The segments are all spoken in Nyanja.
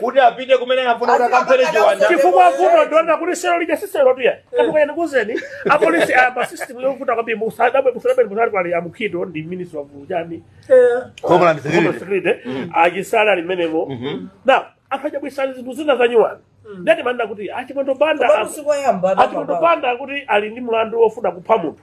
kuti apite kumene anafuna kuti akamphere chiwanda chifukwa vuto ndaona kuti selo lija si selo tuya katuka ene kuzeni apolisi ayamba system yovuta kwambiri musadabwe musadabwe kuli a Mukhito ndi minister wa ujeni homeland security security achitsala m'menemo na anthu achabwisani zinthu zina zanyuwani ndati manena kuti achimwendo banda Koma usiku oyamba achimwendo banda kuti ali ndi mlandu wofuna kupha munthu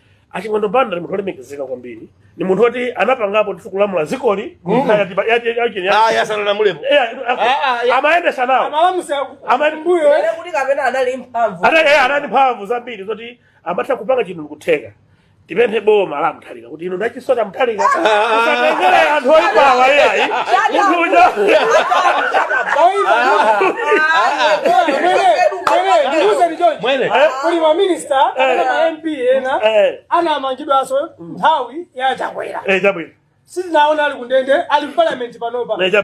achimwendo banda ni munthu olemekezeka kwambiri ni munthu oti anapangapo ndithu kulamula zikoli ayi asanalamulepo amayendetsa nawo amalamula Amani- kumbuyo Ere kuti kapena anali mphamvu Ana- eh, anali mphamvu zambiri zoti amatha kupanga chinthu ndikutheka tipemphe boma la mutharika kuti ino ndachi sona mutharika usatengere anthu oyipawa iyayi munthu uja Mwene. kuli maminista kapena ma mp ena Eh. anamangidwanso nthawi ya chakwera Eh, chabwino sitinaona ali kundende ali mparliament panopa Eh, chabwino